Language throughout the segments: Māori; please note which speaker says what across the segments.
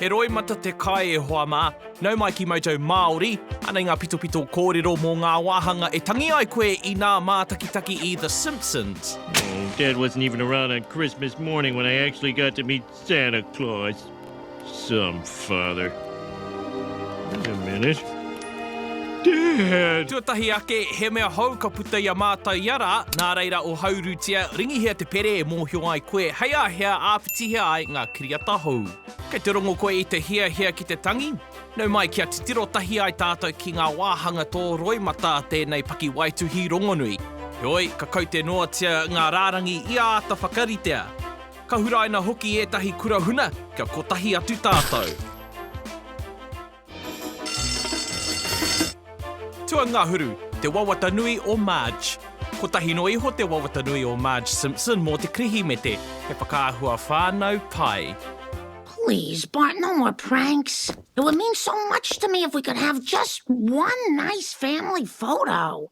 Speaker 1: He roimata te kai e hoa mā. Nau mai ki Moto Māori. Anei ngā pitopito kōrero mō ngā wāhanga e tangi ai koe i nā mātakitaki i The Simpsons. Oh, Dad wasn't
Speaker 2: even around on Christmas morning when I actually got to meet Santa Claus. Some father. Wait a minute. Dad! Tuatahi ake, he mea
Speaker 1: hou ka puta i a mātou ia rā, nā reira o haurutia, ringihia te pere e mōhio ai koe hei a hea āwhitihia ai ngā kiriata hou. Kei te rongo koe i te hiahia ki te tangi? Nau mai kia titiro tahi ai tātou ki ngā wāhanga tō roimata tēnei pakiwaituhi rongonui. Heoi, ka kaute noatia ngā rārangi i āta whakaritea. Ka huraina hoki ētahi kura huna kia kotahi atu tātou. Tuangahuru, te wawata nui o Marge. Kotahi noa iho te wawata nui o Marge Simpson mō te Kirihimete, he whakaahua whānau pai. Please
Speaker 3: but no more pranks it would mean so much to me if we could have just one nice family photo.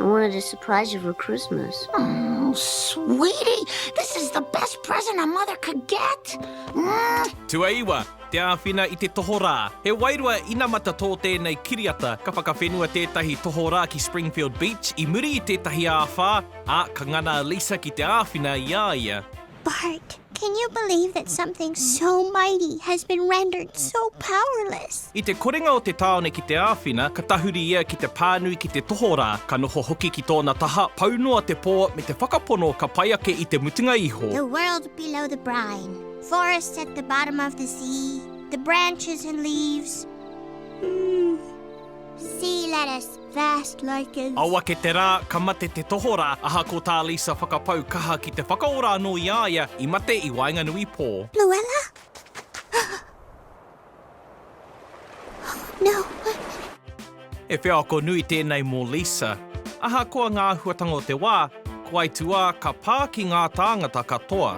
Speaker 3: I wanted
Speaker 4: to surprise you for Christmas. Oh,
Speaker 3: sweetie, this is the best present a mother could get. Mm.
Speaker 1: Tuaiwa, te āwhina i te tohorā. He wairua inamata tō tēnei kiriata, ka whakawhenua tētahi tohorā ki Springfield Beach i muri i tētahi āwhā, ā, ka ngana a Lisa ki te āwhina i a ia. bark.
Speaker 5: Can you believe that something so mighty has been rendered so powerless? I te korenga o te
Speaker 1: tāone ki te āwhina, ka tahuri ia ki te pānui ki te tohorā, ka noho hoki ki tōna taha, pau noa te pō, me te whakapono ka pai ake i te mutunga iho. The world below the
Speaker 5: brine, forests at the bottom of the sea, the branches and leaves, mm, sea lettuce. Fast like a... Ao ake te rā, ka
Speaker 1: mate te tohorā, ahakoa tā Lisa whakapau kaha ki te whakaora anō i a ia i mate i waenganui pō. Luella?
Speaker 5: Oh, no.
Speaker 1: He wheako nui tēnei mō Lisa. Ahakoa ngā āhuatanga o te wā, ko aituā ka pā ki ngā tāngata katoa.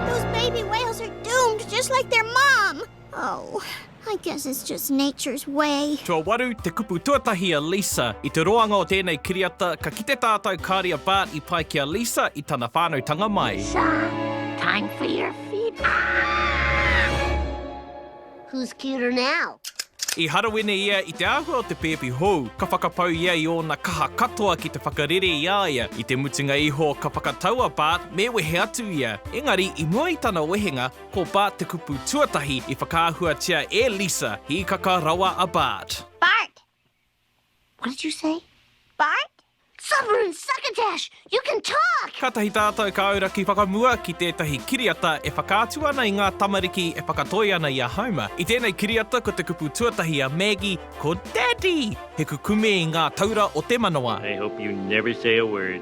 Speaker 5: Those baby whales are doomed just like their mom! Oh. I guess it's just nature's way. Tuawaru, te kupu
Speaker 1: tuatahi a Lisa. I te roanga o tēnei kiriata, ka kite tātau kāri a Bart i pai ki a Lisa i tana whānautanga mai. Lisa,
Speaker 3: time for your feet up! Who's
Speaker 4: cuter now? I harawene
Speaker 1: ia i te āhua o te pēpi hou. Ka whakapau ia i ōna kaha katoa ki te whakarere i a ia. I te mutunga iho, ka whakatau a Bart me wehe atu ia. Engari, i mua i tana wehenga, Ko Bart te kupu tuatahi i whakaahuatia e Lisa, hīkaka rawa a Bart. Bart!
Speaker 3: What did you say? Bart?
Speaker 5: Sovereign
Speaker 3: Succotash! You can talk! Kātahi tātou ka
Speaker 1: auraki whakamua ki tētahi kiriata e whakaatu ana i ngā tamariki e whakatoi ana i a Homer. I tēnei kiriata ko te kupu tuatahi a Maggie ko Daddy! He kukume i ngā taura o te manawa. I hope you never
Speaker 2: say a word.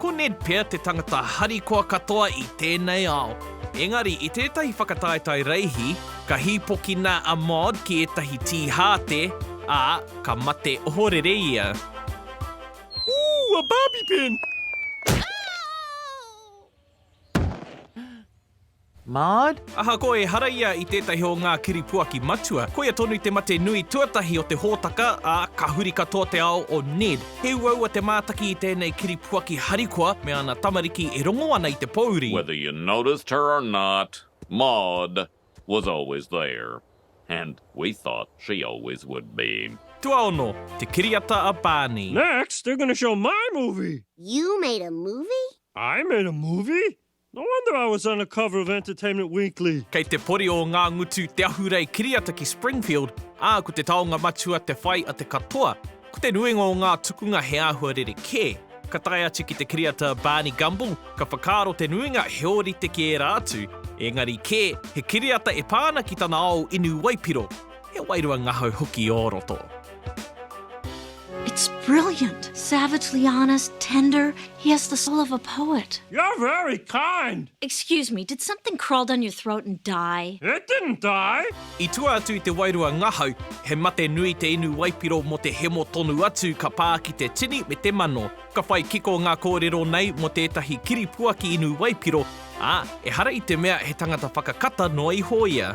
Speaker 1: Ko Ned pea te tangata harikoa katoa i tēnei ao. Engari, i tētahi whakataetae reihi, ka hīpokina a Maud ki ētahi tīhāte, ā, ka mate ohorere ia.
Speaker 2: Ooh, a barbie pin!
Speaker 6: Maud? Ahakoa ehara
Speaker 1: ia i tētahi o ngā kiripuaki matua, koia tonu te mate nui tuatahi o te hōtaka, ā, ka huri katoa te ao o Ned. He uaua te mātaki i tēnei kiripuaki harikoa me ana tamariki e rongo ana i te pōuri. Whether you noticed
Speaker 7: her or not, Maud was always there, and we thought she always would be. Tuaono, te
Speaker 1: kiriata a Barney. Next, they're going to show
Speaker 2: my movie! You made a
Speaker 4: movie? I made a
Speaker 2: movie? No wonder I was on the cover of Entertainment Weekly. Kei te pori o Ngā
Speaker 1: Ngutu te ahurei kiriata ki Springfield, ā, ko te taonga matua te whai a te katoa. Ko te nuinga o ngā tukunga he āhua rerekē. Ka tae atu ki te kiriata Barney Gumble, ka whakaaro te nuinga he ōrite ki ērā atu, ēngari kē, he kiriata e pā ana ki tana ao inu waipiro. He wairua ngahau hoki ō roto. It's
Speaker 8: brilliant, savagely honest, tender, he has the soul of a poet. You're very
Speaker 2: kind! Excuse me, did
Speaker 8: something crawl down your throat and die? It didn't die!
Speaker 2: I tua atu i te
Speaker 1: wairua ngahau, he mate nui te inu waipiro mō te hemo tonu atu ka pā ki te tini me te mano. Ka whai kiko ngā kōrero nei mō tētahi kiripuaki inu waipiro, ā, ehara i te mea he tangata whakakata noa iho ia.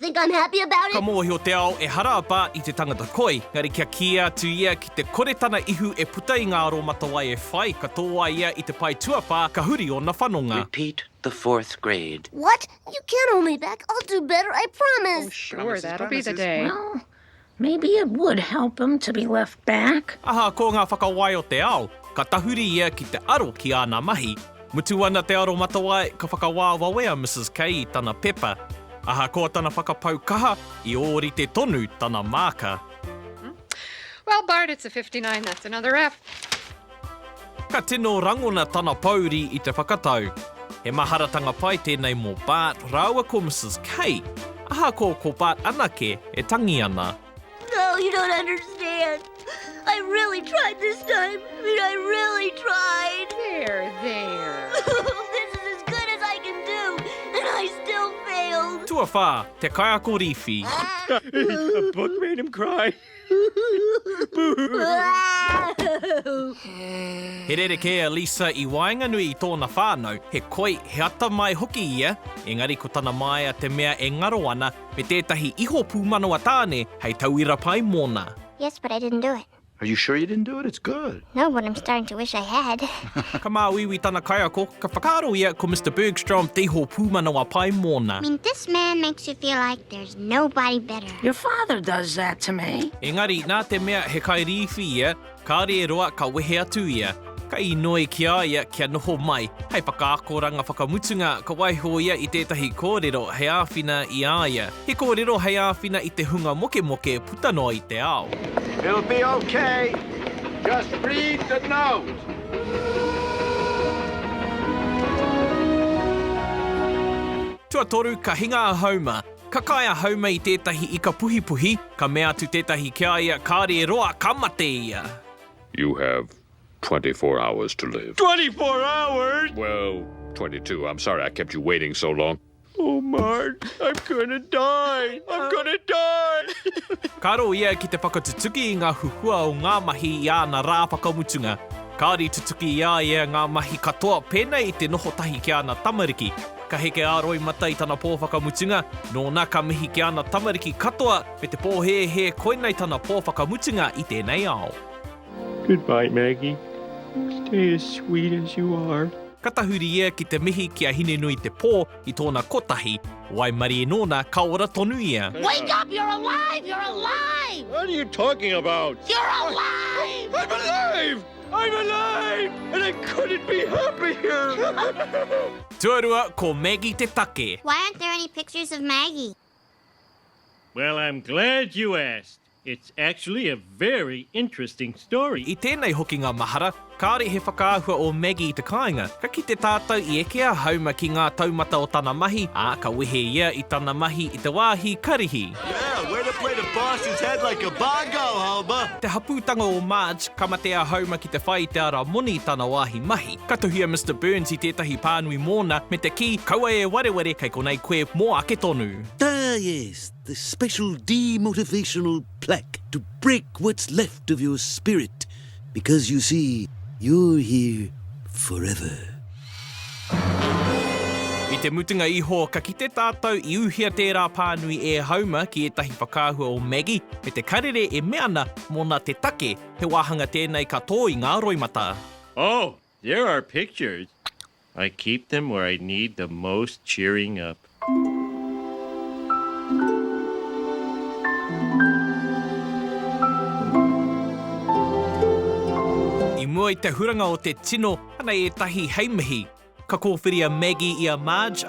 Speaker 4: Think I'm happy about it? Ka mōhio te ao
Speaker 1: ehara a Bart i te tangata koi, engari kia kīia atu ia ki te kore tana ihu e puta i ngā aromatawai e whai, ka tō ai ia i te pae tuawhā, ka huri ōna whanonga. Repeat the fourth
Speaker 9: grade. What? You can't
Speaker 4: hold me back, I'll do better, I promise! Oh sure, that'll be the
Speaker 10: day. Well,
Speaker 3: Maybe it would help him to be left back. Aha ko nga whakawai
Speaker 1: o te ao, ka tahuri ia ki te aro ki ana mahi. Mutu ana te aromatawai, ka whakawā wawe a Mrs Kay i tana pepa. Ahakoa tana whakapau kaha, i ōrite tonu tana māka.
Speaker 10: Well Bart it's a fifty nine that's another F.
Speaker 1: Ka tino rangona tana pōuri i te whakatau. He maharatanga pai tēnei mō Bart rāua ko Mrs Kay, ahakoa ko Bart anake e tangi ana. No, you don't
Speaker 4: understand. I really tried this time. I mean, I really tried. There, there.
Speaker 10: This is
Speaker 4: as good as I can do, and I still failed. Tuawhā, te
Speaker 1: kaiako rīwhi. Book
Speaker 2: made him cry.
Speaker 1: He rerekē a Lisa i waenganui i tōna whānau, he koi, he atamai hoki ia, engari ko tana māia te mea e ngaro ana, me tētahi iho pūmanawa tāne hei tauira pai mōna. Yes, but I didn't do
Speaker 5: it. Are you sure you didn't
Speaker 11: do it? It's good. No, but I'm starting to
Speaker 5: wish I had. Ka māuiui
Speaker 1: tana kaiako, ka whakaaro ia ko Mister Bergstrom te iho pūmanawa pai mōna. I mean, this man
Speaker 5: makes you feel like there's nobody better. Your father does
Speaker 3: that to me. Engari, nā te mea
Speaker 1: he kairīwhi ia, kāore e roa ka wehe atu ia. Ka inoi ki a ia kia noho mai. Hei whakaakoranga whakamutunga, ka waiho ia i tētahi kōrero hei āwhina i a ia. He kōrero hei āwhina i te hunga mokemoke puta noa i te ao. It'll be ok.
Speaker 11: Just read the note.
Speaker 1: Tuatoru, ka hinga a Homer. Ka kai a Haume i tētahi ika puhipuhi, ka mea atu tētahi ki a ia, Kāre e roa, ka mate ia! You have
Speaker 7: twenty four hours to live. Twenty four hours?
Speaker 2: Well, twenty
Speaker 7: two. I'm sorry I kept you waiting so long. Oh, Mart,
Speaker 2: I'm gonna die! I'm gonna die! Ka aro ia ki
Speaker 1: te whakatutuki i ngā huhua o ngā mahi i āna rā whakamutunga. Kāore i tutuki i a ia ngā mahi katoa pēnei i te noho tahi ki āna tamariki. Ka heke a Roimata i tana pō whakamutunga, nōna ka mihi ki ana tamariki katoa me te pōhēhē koinei tana pō whakamutunga i tēnei ao. Goodbye
Speaker 2: Maggie, stay as sweet as you are. Ka tahuri ia
Speaker 1: ki te mihi ki a Hinenui Te Pō i tōna kotahi waimarie nōna ka ora tonu ia. Wake up, you're
Speaker 3: alive, you're alive! What are you talking
Speaker 2: about? You're alive!
Speaker 3: I'm alive!
Speaker 2: I'm alive and I couldn't be happier!
Speaker 1: Tuarua, ko Maggie te take. Why aren't there any pictures
Speaker 5: of Maggie?
Speaker 2: Well, I'm glad you asked. It's actually a very interesting story. I tēnei hokinga
Speaker 1: mahara, kāore he whakaahua o Maggie i te kāinga, ka kite tātou i eke a Hauma ki ngā taumata o tana mahi, ā, ka wehe ia i tana mahi i te wāhi karihi. Yeah, way to play
Speaker 11: the boss is head like a bongo, Homer! Te hapūtanga o
Speaker 1: Marge, ka mate a Homer ki te whai i te ara moni i tana wāhi mahi. Ka tuhia Mister Burns i tētahi pānui mōna, me te kī, Kaua e wareware, kei konei koe mō ake tonu. Ah yes,
Speaker 12: the special demotivational plaque to break what's left of your spirit. because you see you're here forever.
Speaker 1: I te mutunga iho ka kite tātou i uhia tērā pānui e Hauma ki ētahi whakaahua o Maggie me te karere e mea ana mōna te take he wāhanga tēnei ka tō i ngā roimata. Oh!
Speaker 2: There are pictures! I keep them where I need the most cheering up.
Speaker 1: I mua i te huranga o te tino, anei ētahi hei mihi. Ka kōwhiri a Maggie i a Marge,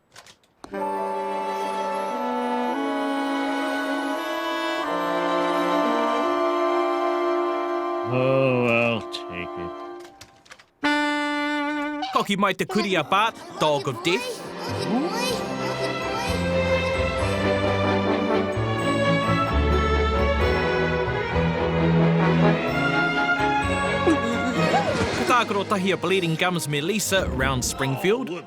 Speaker 1: Koki mai te kurī a Bart, Dog of Death. Ko tākaro tahi a Bleeding Gums me Lisa, Round Springfield.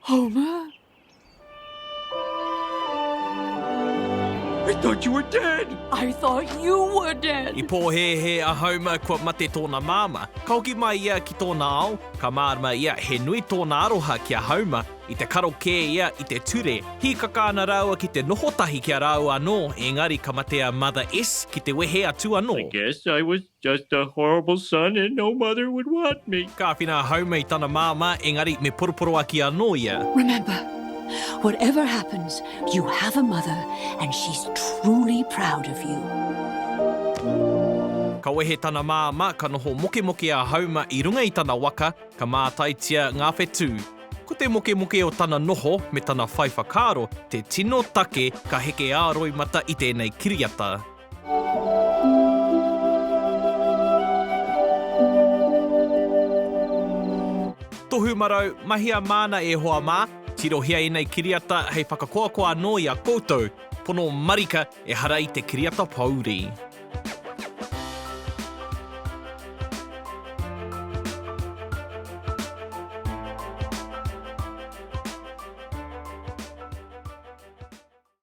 Speaker 2: Hau mā! I thought you were dead! I thought you
Speaker 10: were dead! I pōhēhē a
Speaker 1: Homer kua mate tōna māmā. Ka hoki mai ia ki tōna ao, ka mārama ia he nui tōna aroha ki a Homer, i te karo kē ia i te ture. Hīkaka ana rāua ki te noho tahi ki a rāua anō, ēngari ka mate a Mother S. ki te wehe atu anō. I guess I was
Speaker 2: Just a horrible son and no mother would want me. Ka āwhina a Homer i
Speaker 1: tana māmā, engari me poroporoaki anō ia. Remember,
Speaker 13: whatever happens, you have a mother and she's truly proud of you.
Speaker 1: Ka wehe tana māmā, ka noho mokemoke a Homer i runga i tana waka, ka mātaitia ngā whetū. Ko te mokemoke o tana noho me tana whai whakaaro te tino take ka heke ā-roimata i tēnei kiriata. Tohu marau, mahia māna e hoa mā, tirohia ēnei kiriata hei whakakoakoa anō i a koutou pono marika ehara i te kiriata pōuri.